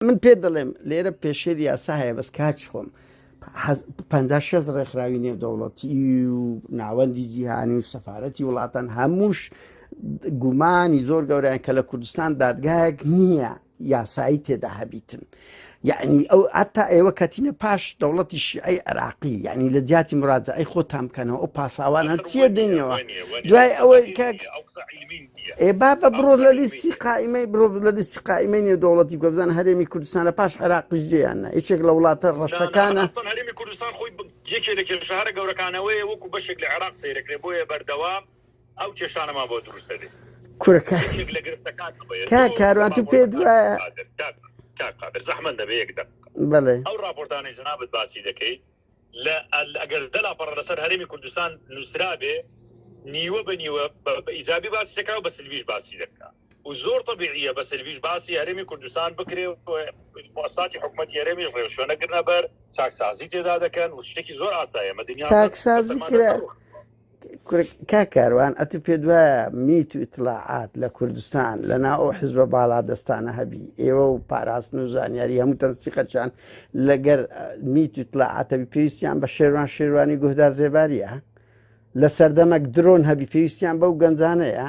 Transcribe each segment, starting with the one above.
من پێ دەڵێم لێرە پێشێل یاسا هەیە بەس کاچ خۆم پ شەز ڕێکخراوی نێودەوڵەتی و ناوەندی جیهانی و سەفاەتی وڵاتان هەمووش گومانی زۆر گەوریان کە لە کوردستان دادگایەک نییە یاسایی تێدا هەبیتن یەعنی ئەو هەتا ئێوە کەتینە پاش دەوڵەتی شیعی عێراقی یعنی لە جیاتی مراجعی خۆتان بکەنەوە ئەو پاساوانە چیە دێنەوە دوای ئەوەی کاک ئێ با بە بڕۆ لە لیستی قائیمەی برۆ لە لیستی قائیمەی نێو دەوڵەتی گۆبزان هەرێمی کوردستان لە پاش عێراقیش جێیان نە یەکێک لە وڵاتە ڕەشەکانە هەرێمی کوردستان خۆی یەکێ لە کێشارە گەورەکانەوەی وەکو بەشێک لە عێراق سەیرەکرێ بۆیە بەردەوام ئەو کێشانەمان بۆ دروست دەبێت کورە کا- یەکێک لە گرفتەکان ئەوەیە. کا دوو کاروان تو راپۆرت پێت کاک وایە قادر، کاک کاک قادر زەحمەت دەبێ یەک دەق بەڵێ ئەو راپۆرتانەی جنابت باسی دەکەی لە ئەل- ئەگەر دە لاپەڕە لەسەر هەرێمی کوردستان نووسرابێ نیوە بە نیوە بە بە ئیجابی باسی دەکا و بە سلبیش باسی دەکا و زۆر طبیعیە بە سلبیش باسی هەرێمی کوردستان بکرێ و مؤسساتی حکومەتی هەرێمیش ڕێوشوێ نەگرنە بەر چاکسازی تێدا دەکەن و شتێکی زۆر ئاسایە مە دنیا چاکسازی کرا. کورە کا کاروان ئەتو پێ دوایە میت و ئیتلاعات لە کوردستان لە ناو ئەو حزبە باڵا دەستانە هەبی ئێوە و پاراستن و زانیاری هەموو تەنسیقەچان لەگەر میت و ئیتلاعاتەبی پێویستیان بە شێوان شێوانی گوهدار زێباریە لە سەردەمەک درۆن هەبی پێویستیان بەو گەنجانەیە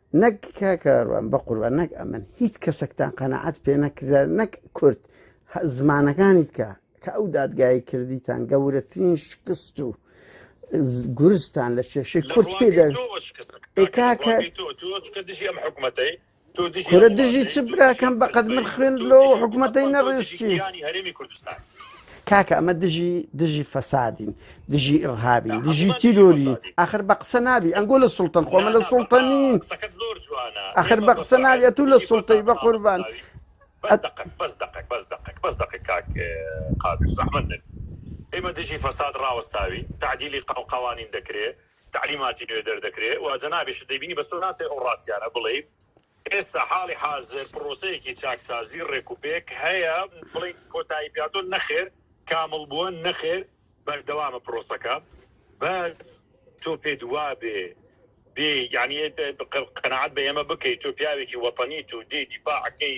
نەک کاکەڕوان بە قوربان نەک ئەمن هیچ کەسێکتان قەنەعات پێ نەکرا نەک کورد زمانەکانی کە کە ئەو دادگایی کردیتان گەورەترین شکست و گورستان لە کێشەی کورد پێ کاکە دژی چ براکەم بەقەت من خوێن لۆ حکوومەتەی نەڕێشتی هەرێمی کوردستان کاکە ئەمە دژی دژی فەسادین دژی ئڕهابین دژی تیرۆری ئەخر بە قسە نابی ئەنگۆ لە سلتەن خۆمە لە سلتەنین ئەخر بە قسە ناوی ئە تو لە سلتەی بە قوربان ئێمە دژی فەساد ڕاوەستاوی تعدیلی قەوانین دەکرێت تەعلیماتی نوێ دەردەکرێ و جەنابیشت دەیبینی، بەس تۆ ناتوێ ئەو ڕاستیانە بڵێی. ئێستا حاڵی حازر پڕۆسەیەکی چاکسازی ڕێکوپێک هەیە، بڵێی کۆتایی پێهاتووە نەخێر، کامڵ بووە نەخێر، بەردەوامە پڕۆسەکە، بەس تۆ پێت وابێ بێ یەعنی قەناعەت بە ئێمە بکەی، تۆ پیاوێکی وەتەنیت و دێی دیفاع ئەکەی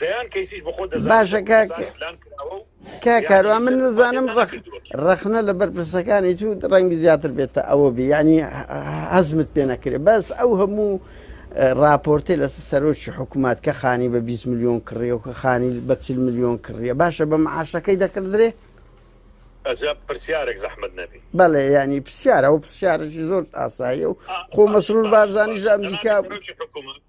دەیان کەیسیش بە خۆت دەزانیت باشە لە کاک کوردستان ئیلان کراوە و کاک دەیان کاروان من کەیسیان نزانم ئیسپاتیان ڕەخ نەکردووە کیان. ڕەخنە لە بەرپرسەکانی تو ڕەنگی زیاتر بێتە ئەوە بی ینی هەزمت پێ نەکرێ بەس ئەو هەموو اه، ڕاپۆرتێ لەسەر سەرۆکی حکوومەت کە خانی بە 20 میلیۆن کڕیە و کە خانی بە 40 میلیۆن کڕیە باشە بە معاشەکەی دەکردرێ ئەجا پرسیارێک زەحمت نەبی بەڵێ ینی پرسیارە و پرسیارێکی زۆر ئاساییە و خۆ مەسرور بارزانانی ژە ئەمریکا سەرۆکی حکوومەت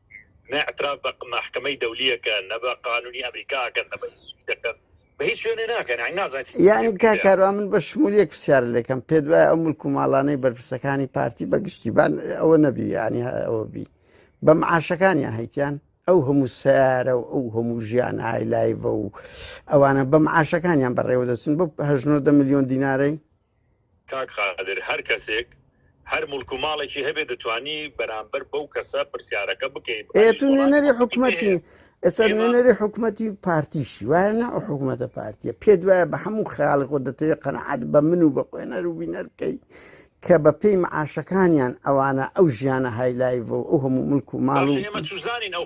نە ئعتراف بە مەحکەمەی دەولی ئەکەن نە بە قانونی ئەمریکا ئەکەن نە بە هیچ شتیک دەکەن بە هیچ شوێنێ ناکەن یانی نازانن چی یعنی دەکەن. کا کاروا من بە شمولیک پرسیار لەکەم پێت وایە ئەو ملک و ماڵانەی بەرپرسەکانی پارتی بە گشتیبان ئەوە نەبی یعنی هە- ئەوە بی بە معاشەکانیان هەیتیان ئەو هەموو سیارە و ئەو هەموو ژیان هایلایڤە و ئەوانە بە معاشەکانیان بەڕێوە دەچن بە هەژنۆدە میلیۆن دینارەی کاک قادر هەر کەسێک هەر موڵک و ماڵێکی هەبێ دەتوانی بەرامبەر بەو کەسە پرسیارەکە بکەیت ئێ تو نوێنەری حکومەتی ئێستا نوێنەری حکومەتی پارتیشی وایە نا ئەو حکوومەتە پارتیە پێ دوایە بە هەموو خیاڵ خۆ دەتەوێت قەنەعات بە من و بە خوێنەر و بینەر بکەی کە بە پێی معاشەکانیان ئەوانە ئەو ژیانە هایلایڤ و ئەو هەموو ملک و ماڵ و ئێمە چزانین ئەو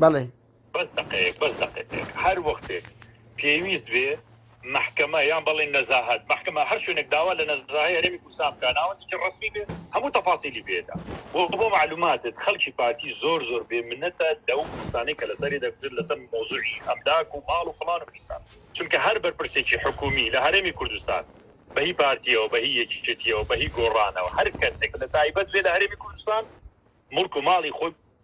بەڵێ. بەس دەقەیەک بەس دەقەیەک هەر وەختێک پێویست بێ مەحکەمە یان بەڵێن نەزاهەت مەحکەمە هەر شوێنێک داوا لە نەزاهەی هەرێمی کوردستان بکا ناوەندێکی ڕەسمی بێ هەموو تەفاسیلی پێدا و بۆ معلوماتت خەڵکی پارتی زۆر زۆر بێ منەتە لەو کوردستانی کە لەسەری دەکوتن لەسەر مۆزوعی ئەملاک و ماڵ و فڵان و فیسان چونکە هەر بەرپرسێکی حکومی لە هەرێمی کوردستان بەهی پارتیەوە بەهی یەکیەتیەوە بەهی گۆڕانەوە هەر کەسێک لە تایبەت بێ لە هەرێمی کوردستان ملک و ماڵی خۆی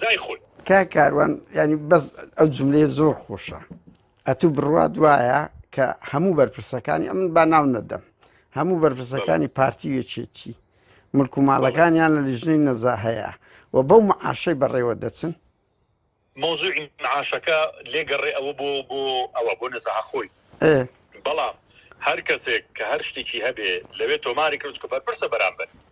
زای خۆی کا کاروان ینی بەس ئەو جملەیە زۆر خۆشە ئەتوو بڕوات وایە کە هەموو بەرپرسەکانی ئەمن با ناو نەدەم هەموو بەرپرسەکانی پارتی وێچێتی ملک و ماڵەکانیان لە لیژنەی نەزا هەیە و بەو معاشەی بەڕێوە دەچن مۆزوعی معاشەکە لێگەڕێ ئەوە بۆ بۆ ئەوە بۆ نەزەها خۆی بەڵام هەر کەسێک کە هەر شتێکی هەبێ لەوێ تۆماری کرد کە بەرپرسە بەرامبەر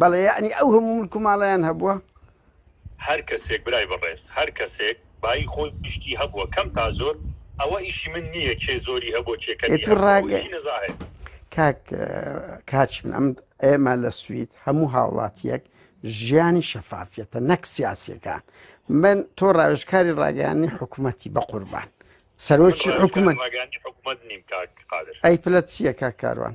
بەڵێ یەعنی ئەو هەموو ملک و ماڵەیان هەبووە؟ هەر کەسێک برای بەڕێز هەر کەسێک بایی خۆی شتی هەبووە کەم تا زۆر ئەوە ئیشی من نییە کێ زۆری هەبووە کێ کەمی هەبووە ئەوە ئیشی نەزاهێ. کاک کاچم ئەم ئێمە لە سوید هەموو هاوڵاتیەک ژیانی شەفافیەتە نەک سیاسەکان من تۆ ڕاوێژکاری ڕاگەیانی حکوومەتی بە قوربان سەرۆکی حکوومەت ئەی پلەت چییە کاک کاروان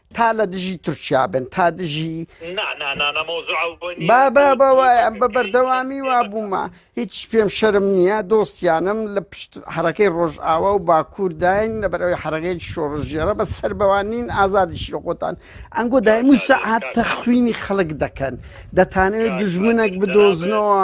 تا لە دژی تورکیا بن تا دژی با با با وایە ئەم بە بەردەوامی وا بوومە هیچ پێم شەرم نییە دۆستیانم لە پشت حرەکەی ڕۆژئاوا و باکوورداین لە بەرەوەی حرەکەی شۆڕژێرە بە سەر بەوانین ئازادیشی خۆتان ئەنگۆ دایم و سەعات تەخوینی خەڵک دەکەن دەتانەوێت دژمنێک بدۆزنەوە.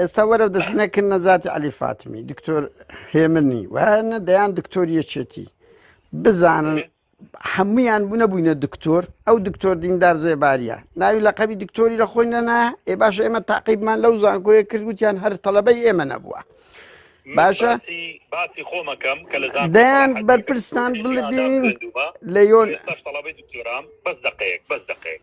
ئێستا وەرەو دەسنە کرد نەزاتی علی فاتمی دکتۆر هێمنی وانە دەیان دکتۆر یەکێتی بزانن هەمویان بوو نەبووینە دکتۆر ئەو دکتۆر دیندار زێباریە ناوی لە قەبی دکتۆری لە خۆی نەنا ئێ باش ئێمە تاقیبمان لەو زانکۆیە کردوتیان هەر تەڵەبەی ئێمە نەبووە باشە باسی خۆمەکەم کە لە دەیان بەرپرسان بڵبین لە یۆن بەس دقەیەک بەس دقەیەک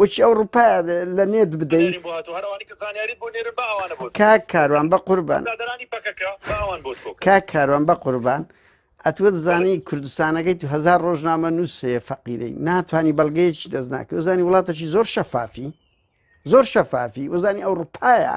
وەکی ئەو ڕوپا لە نێت بدەی بنێرین بۆ هاتوو هەر ئەوانی کە زانیاریت بۆ نێرن با ئەوانە بۆت بکەن کاک کاروان بە قوربان برادەرانی پەکەکە با ئەوان بۆت کۆ کەن کاک کاروان بە قوربان ئەتوە بەڵێ دەزانی کوردستانەکەی تو هزار ڕۆژنامە نووس هەیە فەقیرەی ناتوانانی بەڵگەیەکی دەست ناکە وزانی وڵاتەکی زۆر شەفافی زۆر شەفافی وزانی ئەوروپایە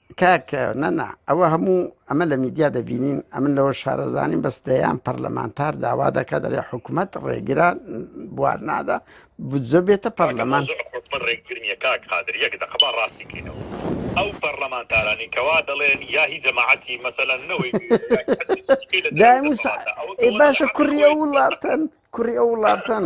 کاک نەنا ئەوە هەموو ئەمە لە میدیا دەبینین ئەمن لەوە شارەزانین بەس دەیان پەرلەمانتار داوا دەکە دەڵێ حکوومەت ڕێگرا بوار نادا بجە بێتە پەرلەمان ڕێگرنیە کاک قادر یەک دەقبا ڕاستی کەینەوە ئەو پەرلەمانتارانی کەوا دەڵێن یا هی جەماعەتی مەسەلا نەوەی باشە کوڕی ئەو وڵاتن کوڕی ئەو وڵاتن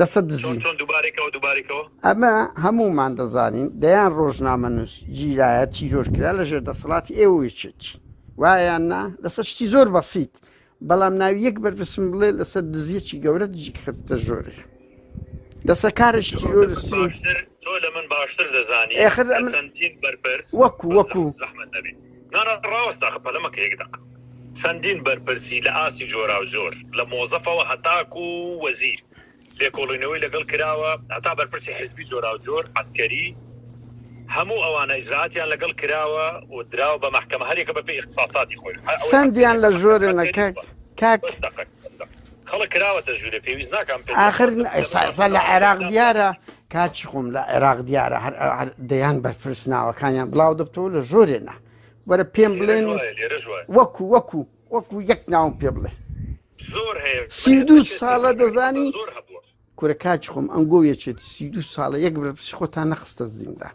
لەسەر ئەمە هەمومان دەزانین دەیان ڕۆژنامە نووس جیرایە تیرۆرکرا لە ژێر دەسەڵاتی ئێوەچێتی وایان نا لەسەر شتی زۆر بەسییت بەڵام ناوی یەک بەرپسم بڵێ لەسەر دزیەکی گەورە دژی خەتە ژۆری لەسەر کارش تیرۆرسی تۆ لە من باشتر دەزانی بەرپرس وەکو وەکو نانا ڕاوەست داخە پەلە مەکە یەک دەقە. چەندین بەرپرسی لە ئاستی جۆراوجۆر لە مۆزەفەوە هەتاکو وەزیر لێکۆڵینەوەی لەگەڵ کراوە هەتا بەرپرسی حزبی جۆراوجۆر عەسکەری هەموو ئەوانە ئیجرائاتیان لەگەڵ کراوە و دراوە بە مەحکەمە هەر یەکە بەپێی ئیختساساتی خۆی هەر ئەوەی عەسکەریە چەندیان لە بە مەحکەمە ژۆرێ عەسکەری نەکەک بووە کاک بەس دەقەک. ئاخر ئێستا لە عێراق دیارە کاچی خۆم لە عێراق دیارە هەر دەیان بەرپرس ناوەکانیان بڵاو دەبتەوە لە ژۆرێنا وەرە پێم بڵێن وەکو وەکو وەکو یەک ناوم پێ بڵێ سی دو ساڵە دەزانی کورە کاچ خۆم ئەنگۆ یەچێت سی دو ساڵە یەک بەرپرس خۆتان نەخستە زیندان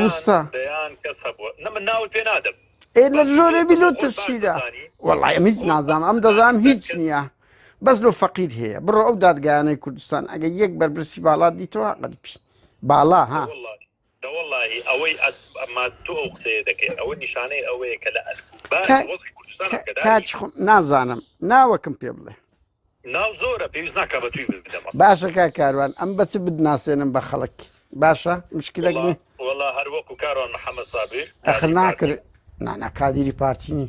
وستا ئێ لە ژۆرە بیلو ترسیدا وەڵی ئەمیز نازام ئەم دەزانام هیچ نییە بەس لۆ فەقیر هەیە بڕۆ ئەو دادگایانەی کوردستان ئەگە یەک بەرپرسی باڵات دیتەوە قەلپی باڵا ها دەوەڵی ئەوەی ئەماتۆ ئەو قسەیە دەکەی ئەوە نیشانەی ئەوەیە کە لە ئەس نازانم ناوەکم پێ بڵێ ناو زۆرە پێویست ناکا بە توی بدەم ئەسڵەن. باشە کاک کاروان ئەم بە چ بدناسێنم بە خەڵک باشە مشکلەک وەڵا نییە وەڵا هەر وەکو کاروان محەممەد سابیر ئەخر کاری ناکر پارتی نانا کادیری پارتی نی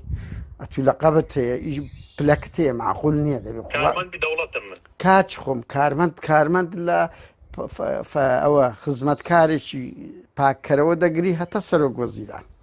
ئەتوو لە قەبت هەیە ئیش پلەکت هەیە معقول نییە دەبێ خوا کارمەندی دەوڵەتم من کاچ خۆم کارمەند کارمەند لە ف- ف- ف- ئەوە خزمەتکارێکی پاککەرەوە دەگری هەتا سەرۆک وەزیران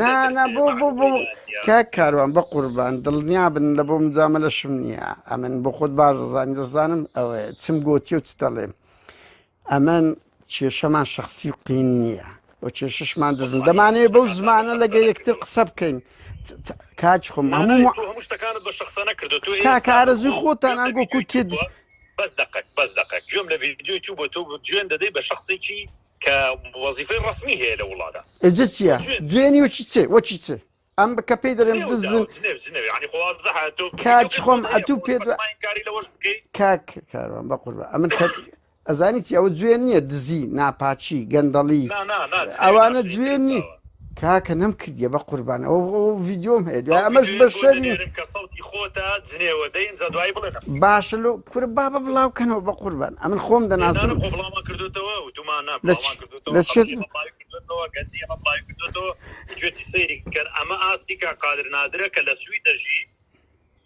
نا نا بۆ بۆ بۆ کە کاروان بە قوربان دڵنیا بن لە بۆ مجامە لەشم نییە ئەمن بۆ خۆت بازەزانی دەزانم ئەوێ چم گوتی و چ دەڵێم ئەمن کێشەمان شخصی و قین نییە و کێششمان دژم دەمانێ بەو زمانە لەگە یەکتر قسە بکەین کاچ خۆم هەموو شتەکانت بە شخصە نەکردو تو کارەزوی خۆتان ئەنگۆ کوتێت بەس دقەت بەس دقەت گوێم لە ڤیددیو تو بۆ تۆ جوێن دەدەی بە شخصێکی کە وەزیفەی ڕەسمی هەیە لە وڵادا. ئێجە چیە؟ جوێنی وەچی چێ وەچی چێ؟ ئەم بکە پێی دەرێن دزن کاچ خۆم ئەتوو پێ کاک کاروان بە قوربە ئەمن ئەزانی چی ئەوە جوێن نییە دزی ناپاچی گەندەڵی ئەوانە جوێن نیت کاکە نەم کردیە بە قوربان ئەوە ڤیدیۆم هەیە دوای ئەمەش بە شەری باشە لۆ کورە بابە بڵاو کەنەوە بە قوربان ئەمن خۆم دەناسم لە چێت گوێتی سەیری کەر ئەمە ئاستی کا قادر نادرە کە لە سوی دەژی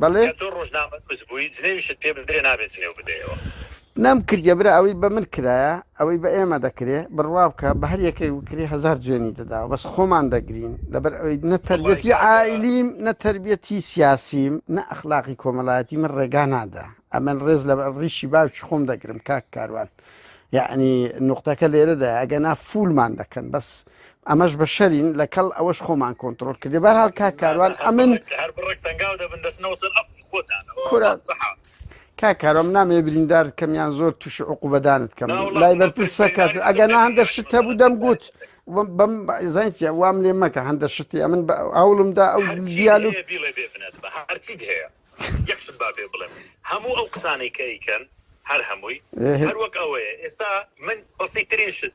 بەڵێ. گەر تۆ ڕۆژنامە نوس بوی جنێویشت پێ بدرێ نابێ جنێو بدەیەوە. نەم کردیە برا ئەوەی بە من کرایە ئەوەی بە ئێمە دەکرێ بڕوا بکە بە هەر یەکێک بکری هەزار جوێنی دەداوە بەس خۆمان دەگرین لەبەر ئەوەی نە تەربیەتی عائیلیم نە تەربیەتی سیاسیم نە ئەخلاقی کۆمەڵایەتی من ڕێگا نادا ئەمن ڕێز لە ڕیشی باوکی خۆم دەگرم کاک کاروان یعنی نقطەکە لێرەدا ئەگەنا فولمان دەکەن بەس ئەمەش بەشەرین لەکەڵ ئەوەش خۆمان کۆنتڕۆڵ کردی بەرحال کاک کاروان ئەمن کا کارۆم نامێ بریندار کەمیان زۆر تووشی عقوبەدانت کەم لای بەرپرسە کات ئەگەر نا هەندە شت هەبوو دەم گوت بەم زانسیە وام لێ مەکە هەندە شتی ئەمن ئەوڵمدا ئەو دیالو هەموو ئەو قسانەی کە ئەیکەن هەر هەمووی هەروەک ئەوەیە ئێستا من بەسیترین شت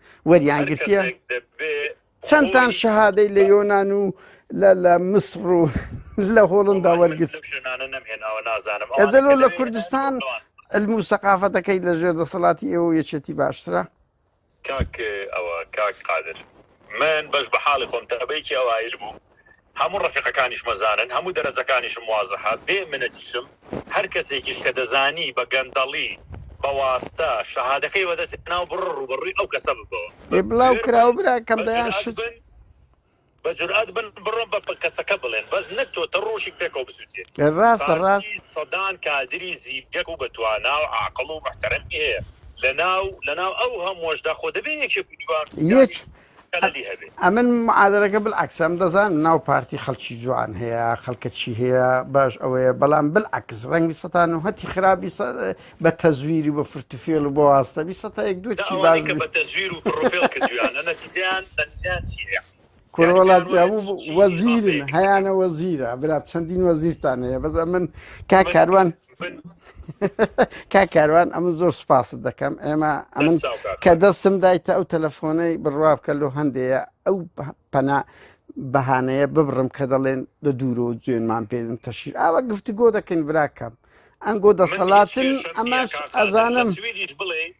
وەریان گرتیە چەندتان شەهادەی لە یۆناان و لە لە مسڕ و لە هۆڵندا وەرگرت ئەزەلۆ لە کوردستان علم و سەقافەتەکەی لە ژێر دەسەڵاتی ئێوە یەچێتی باشترە کاک ئەوە کاک قادر من بەش بە حاڵی خۆم تەبەیکی ئەوایل بوو هەموو ڕەفیقەکانیشم ئەزانن هەموو دەرەجەکانیشم وازحە بێ منەتیشم هەر کەسێکیش کە دەزانی بە گەندەڵی بە واستە شەهادەکەی بە دەست هێناوە بڕۆ ڕووبەڕووی ئەو کەسە ببەوە بە ئێ بڵاو بوێر کراوە بن براکەم بە دەیان جورئەت شت بن بە جورئەت بن بڕۆن بە بە کەسەکە بڵێن بەس نەک تۆ تە ڕۆژیک پێکەوە بسووتێنی ئێ ڕاستە پارتی ڕاست سەدان کادری زیرەک و بە توانا و عاقڵ و موحتەرەمی هەیە لە ناو لە ناو ئەو هەمووەشدا خۆ دەبێ یەکێک و دووان یەک پیاوی ئەمن معادەرەکە بالعکسم دەزان ناو پارتی خەڵکی جوان هەیە خەڵکە چی هەیە باش ئەوەیە بەڵام بالعکس ڕەنگی سەتان و هەتی خراپی بە تەزویری بە فرتوفێل و بۆ واستەبی سەتا یەک دوو چی باز بە تەزویر و فرفێڵ کردویانە نەتیجیان نەتیجیان چی هەیە کوڕۆڵات وەزیرن هەیانە وەزیرە برا چەندین وەزیرتان هەیە بەزە من کا کاروان کا کاروان ئەم زۆر سپاست دەکەم ئێمە ئەمن کە دەستم دایتە ئەو تەلەفۆنەی بڕوا بکە لۆ هەندەیە ئەو پەنا بەهانەیە ببڕم کە دەڵێن لە دوورۆ جوێنمان پێدن تەشیر ئاوە گفتگۆ دەکەین براکەم ئەنگۆ دەسەڵاتن ئەماش ئەزانم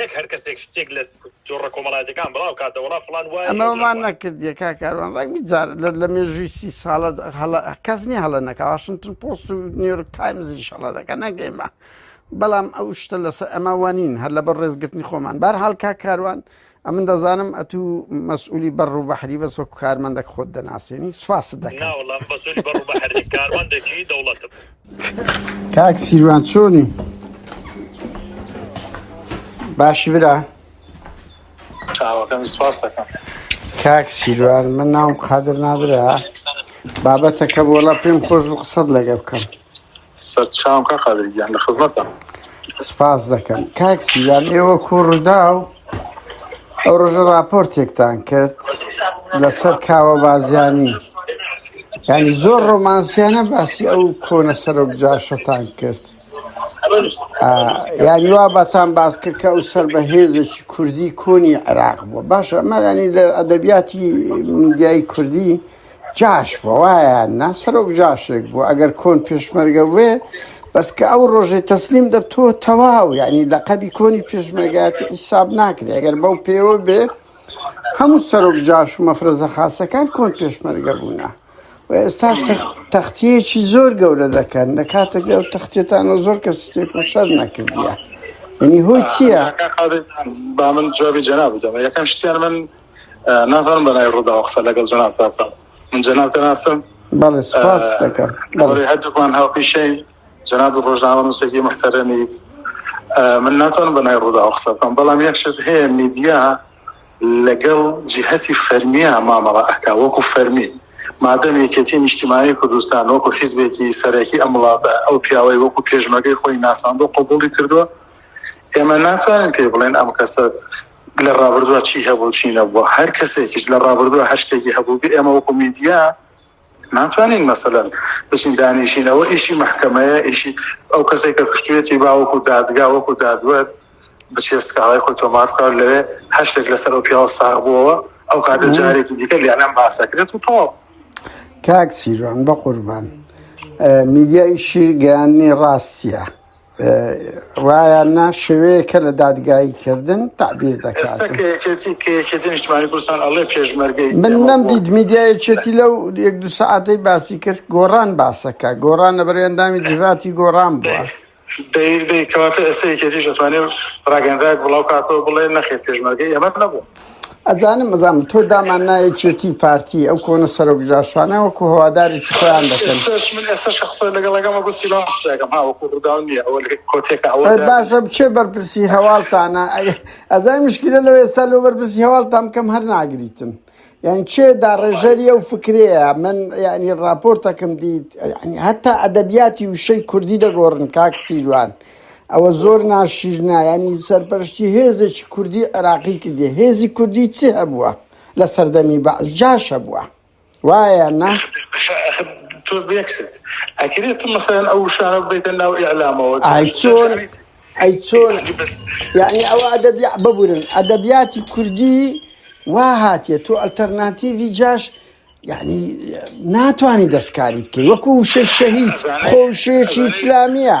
نەک هەر کەسێک شتێک لە تۆڕە کۆمەڵاتەکان بڵاو کاتە وڵا فلان وایە ئەمەمان نەکردیە کا کاروان ڕای بجار لە مێژووی سی ساڵە هەڵە کەس نیە هەڵە نەکە واشنتن پۆست و نیویۆرک تایمزی شەڵە دەکە نەگەیمە بەڵام ئەو شتە لەسەر ئەمە وانین هەر لە بەر ڕێزگرتنی خۆمان بار هەڵکا کاروان ئەمن دەزانم ئەتوو مەسئولی بەڕ و بەحری بەس وەکو کارمەندەک خۆت دەناسیێنی سوپاست دەکەوەڵام بەسولی بەڕ بەحری کاروان دەکی دەوڵەتم کاک سیروان چۆنی باشی برا چاوەکەم سپاس دەکەم کاک سیروان من ناوم قادر نادرا بابەتەکە بۆڵە پێم خۆش بوو قسەت لەگە بکەم سەرچاوکە قادرگیان لە خزمەتە سپاس دەکەم کاک سیروان ئێوە کوڕدا و ئەو ڕژە راپۆرتێکتان کرد لەسەر کاوە بازیانی ینی زۆر ڕۆمانسیانە باسی ئەو کۆنە سەرۆک جاشەتان کرد یاری وا بەتان باس کرد کە ئەو سەر بە هێزێکی کوردی کۆنی عێراق بووە باشە ئەمەگانی لە ئەدەبیاتی میدیایی کوردی جاش بوە وایە نا سەرۆک جاشێک بوو ئەگەر کۆن پێشمەرگە بێ بەس کە ئەو ڕۆژەی تەسلیم دەبتۆ تەواو یعنی لە قەبی کۆنی پێشمەرگاتی حیساب ناکرێ ئەگەر بەو پێوە بێ هەموو سەرۆک جاش و مەفرەزە خاستەکان کۆن پێشمەرگە بوونە و ئێستاش تەختیەکی زۆر گەورە دەکەن لە کاتێک ئەو تەختێتانەوە زۆر کە سێک و شەر نەکردە ینی هۆی چییە؟ با من جوابی جەنا بدەمە یەکەم شتیان من نازانم بە ناوی ڕووداوە قسە لەگەڵ جەنابتا بکەم من جەناب دەناسم بەڵێ سپاس دەکەم بەڵێ هەردووکمان هاوپیشەین جەناب ڕۆژنامە نووسێکی محتەرەمیت من ناتوانم بە نای ڕوودا قسە بکەم بەڵام یەک شت هەیە میدیا لەگەڵ جیهەتی فەرمیە مامەڵە ئەکا وەکو فەرمی مادەم یەکێتی نیشتیمانی کوردستان وەکو حیزبێکی سەرەکی ئەم وڵاتە ئەو پیاوەی وەکو پێشمەگەی خۆی ناساندۆ قوبولی کردووە ئێمە ناتوانین پێ بڵێن ئەم کەسە لە ڕابردووە چی هەبوو چی نەبووە هەر کەسێکیش لە ڕابردووە هەر شتێکی هەبووبێ ئێمە وەکو میدیا ناتوانین مەسەلەن بچین دانیشین ئەوە ئیشی مەحکەمەیە ئیشی ئەو کەسێک کە کوشتێتی با وەکو دادگا وەکو دادوەر بچێ سکاڵای خۆی تۆمار بکات لەوێ هەر شتێک لەسەر ئەو پیاوە ساغ بووەوە ئەو کاتە جارێکی دیکە لێنام باسەکرێت و تەواو کاک سیروان بە قوربان میدیای شیر گەیاندنی ڕاستیە ڕایان نا شێوەیەکە لە دادگایی کردن تعبیر دەکات من نەم دیت میدیایەکێتی لەو یەک دو سعاتەی باسی کرد گۆڕان باسەکە گۆڕان لە بەرێندامی جیڤاتی گۆڕان بووە. دەیکەواتە ئێستا یەکێتیش دەتوانێت ڕاگەنراک بڵاو کاتەوە بڵێ نەخێت پێشمەرگەی ئەمە نەبوو ئەزانم ئەزانم تۆ دامان نایە چێتی و پارتی ئەو کۆنە سەرۆک جاشانە وەکو هەوادارێکی خۆیان دەکەن ئێستاش من ئێستاش کە قسە لەگەڵەکەم وەکو سیما قسەکەم ها وەکو ڕووداو نییە ئەوە لە کۆتێکە ئەوە ئەی دەبێت باشە بچێ بەرپرسی هەواڵتانە ئەی ئەزای مشکلە لەوە ئێستا لۆ بەرپرسی هەواڵتان بکەم هەر ناگریتن یعنی چێ داڕێژەری ئەو فکرەیە من یعنی ڕاپۆرتەکەم دیت یعنی هەتا ئەدەبیاتی وشەی کوردی دەگۆڕن کاک سیروان ئەوە زۆر ناشیرنە ینی سەرپەرشتی هێزێکی کوردی عێراقی کردی هێزی کوردی چ هەبووە لە سەردەمی بە جاشە بووە وایە نا تۆ بێکست ئەکرێت مەسەن ئەو شارە بێتە ناو ئیعلامەوە چۆن ئەی چۆن یعنی ئەو ئەدەبی ببورن ئەدەبیاتی کوردی وا هاتیە تۆ ئەلتەرناتیڤی جاش یعنی ناتانی دەستکاری بکەی وەکو شەهید خۆشێکی ئیسلامیە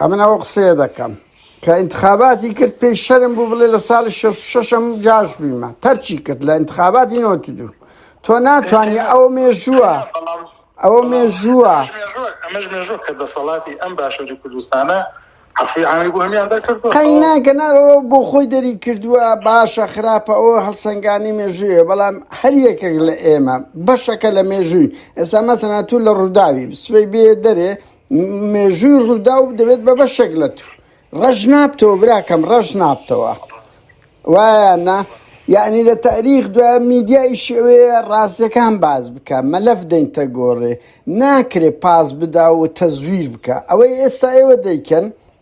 ئەمن ئەوە قسەیە دەکەم کە ئینتخاباتی کرد پێی شەرم بوو بڵێ لە ساڵی 66م جاش بیمە تەرچی کرد لە ئینتخاباتی نۆ دوو تۆ ناتوانانی ئەو مێژووە ئەوە مێژووە ئەمەش مێژوە کە دەسەڵاتی ئەم باشووری کوردستانە عفوی عامی بۆ هەمیان دەرکرد قەیناکە ناەوە بۆ خۆی دەری کردووە باشە خراپە ئەوە هەڵسەنگانی مێژوویە بەڵام هەر یەکێک لە ئێمە بەشەکە لە مێژووی ئێستا مەسەنا تو لە ڕووداوی سبەی بێ دەرێ مێژووی ڕووداو دەبێت بە بەشێک لە تو ڕەش نابتەوە براکەم ڕەش نابتەوە وایە نا یعنی لە تاریخ دوای میدیای شێوەیە ڕاستەکان باز بکە مەلەف دەینتە گۆڕێ ناکرێ پاس بدا و تەزویر بکە ئەوەی ئێستا ئێوە دەیکەن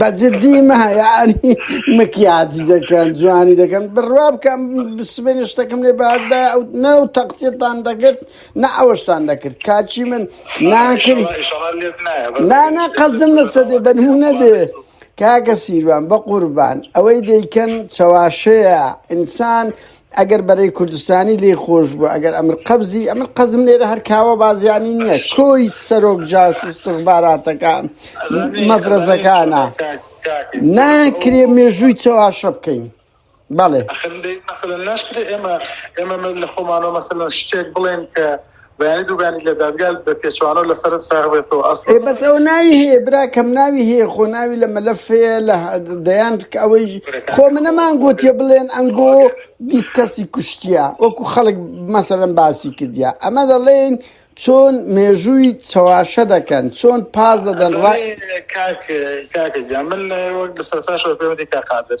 بەجدی مایانی مکیاجی دەکەن جوانی دەکەن بڕوا بکەم سبێنێ شتەکەم لێ باش بە ئەو نە و تەقسیتان دەکرد نە ئەوەشتان دەکرد کاچی من ناکرد نانە قەزم لەسە دێ بەنمونە دێ کاکە سیروان بە قوربان ئەوەی دەیکەن چەواشەیە ئینسان ئەگەر بەرەی کوردستانی لێ خۆش بوو ئەگەر ئەمر قەبزی ئەمن قەزم لێرە هەر کاوە بازیانی نییە کۆی سەرۆک جاش و سخباراتەکە مەفرەزەکانە ناکرێ مێژووی چەواشە بکەین بەڵێ ناشکرێت ئێمە ئێمە لە خۆمانەوە مەسەلەن شتێک بڵێن کە بەیانی دوو بەیانی لە دادگا بە پێچەوانەوە لە سەرت ساغ بێتەوە ئەسڵەن. ئێ بەس ئەوە ناوی هەیە براکەم ناوی هەیە خۆ ناوی لە مەلەف هەیە لە دەیان ئەوەی خۆ منە مان گوتیە بڵێن ئەنگۆ بیست کەسی کوشتیە وەکو خەڵک مەسەلەن باسی کردیا ئەمە دەڵێن چۆن مێژووی چەواشە دەکەن چۆن پاز دەدەن ڕای ئەزانێ کاک کاکە گیان من وەک لە سەرتاشەوە پێوەتی کاک قادر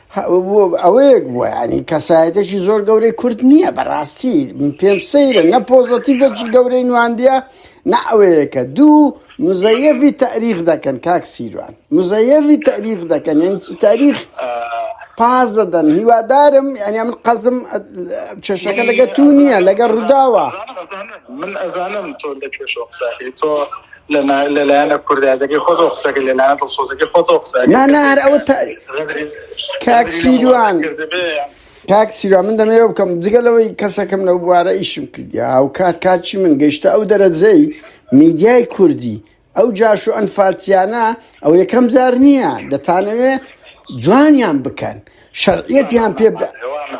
ئەوەیەک بووە ینی کەسایەتێکی زۆر گەورەی کورد نییە بەڕاستی پێم سەیرە نە پۆزەتیڤێکی گەورەی نواندە نە ئەوەیەکە دوو مزەیەوی تاریخ دەکەن کاک سیروان مزەیەوی تاریخ دەکەن یعنی تاریخ پاز دەدەن هیوادارم ینی من قەزم کێشەکە لەگە تو نییە لەگە ڕووداوە من ئەزانم تۆ لە کێشۆ قساکەی تۆ لەلایەن لەلایەنە کوردایەتەکەی خۆتەوە قسەکە لەلایەن دڵسۆزەکەی خۆتەوە قسە ئەگەر نانا کەسێک هەر ئەوە تا غەدری کاک غەدری لە وڵاتە سیروان کردبێ یان کاک سیروان من دەمەوێ بکەم جگە لەوەی کەسەکەم لەو بوارە ئیشم کردیا هاوکات کاچی من گەیشتە ئەو دەرەجەی میدیای کوردی ئەو جاش و ئەنفالتیانە ئەو یەکەم جار نییە دەتانەوێ جوانیان بکەن شەرعیەتیان پێ بدا هەوانە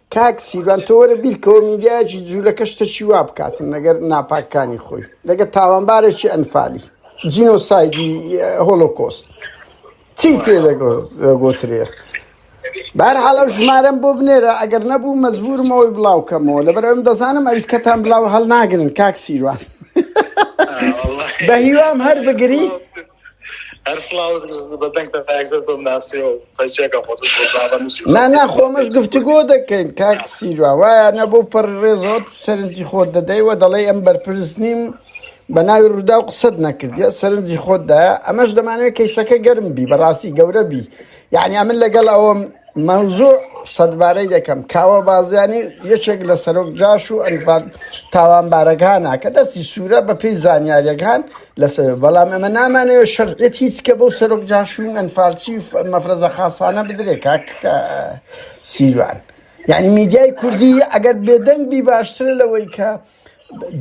کاک سیروان تۆ وەرە بیرکەوە میدیایەکی جولەکە شتەکی وا بکاتن لەگەر ناپاکانی خۆی لەگە تاوانبارێکی ئەنفالی جینۆسایدی هۆلۆکۆست چی پێ دەگۆترێ بار حاڵە ژمارەم بۆ بنێرە ئەگەر نەبوو مەزبورمەوەی بڵاوکەمەوە لەبەر ئەم دەزانم ئەوی کەتان بلاو هەڵناگرن کاک سیروان بە هیوام هەر بگری نا نا خۆمەش گفتوگۆ دەکەین کاک سیروا وایە نە بۆ پەر ڕێزۆت سەرنجی خۆت دەدەیوە دەڵێ ئەم بەرپرس نیم بە ناوی ڕوودا و قسەت نەکردە سەرنجی خۆتدایە ئەمەش دەمانوێت کەیسەکە گەرم بی بەڕاستی گەورە بی یەعنی ئەمن لەگەڵ ئەوەم مەوزوع سەدبارەی دەکەم کاوە بازیانی یەکێک لە سەرۆک جاش و ئەنفال تاوانبارەکانە کە دەستی سوورە بە پێی زانیاریەکان لەسەر بەڵام ئەمە نامانەوە شەرعێت هیچ کە بەو سەرۆک جاشوون ئەنفالچی مەفرەزە خاصانە بدرێ کاک سیروان یعنی میدیای کوردی ئەگەر بێدەنگ بی باشترە لەوەی کە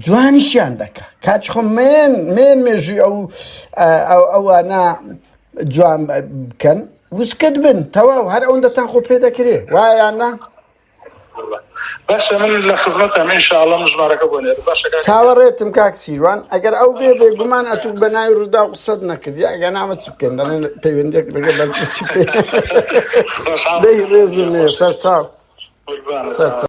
جوانیشیان دەکە کاچ خۆ مێن مێن مێژوی ئەو ئەوانە جوان بکەن وسکت بن تەواو هەر ئەوەن دەتان خۆ پێ دەکرێ وایانە باشە من لە خزمەتە من شاڵم ژمارەکە بۆ نێر باشە چاوەڕێتم کاک سیروان ئەگەر ئەو بێ بێ گومان ئەتوک بە ناوی ڕوودا و قسەت نەکردی ئەگە نامە چ بکەن دەڵێن پەیوەندێک لەگە بەرپرسی پێ دەی ڕێزم نێ سەر ساو سەر ساو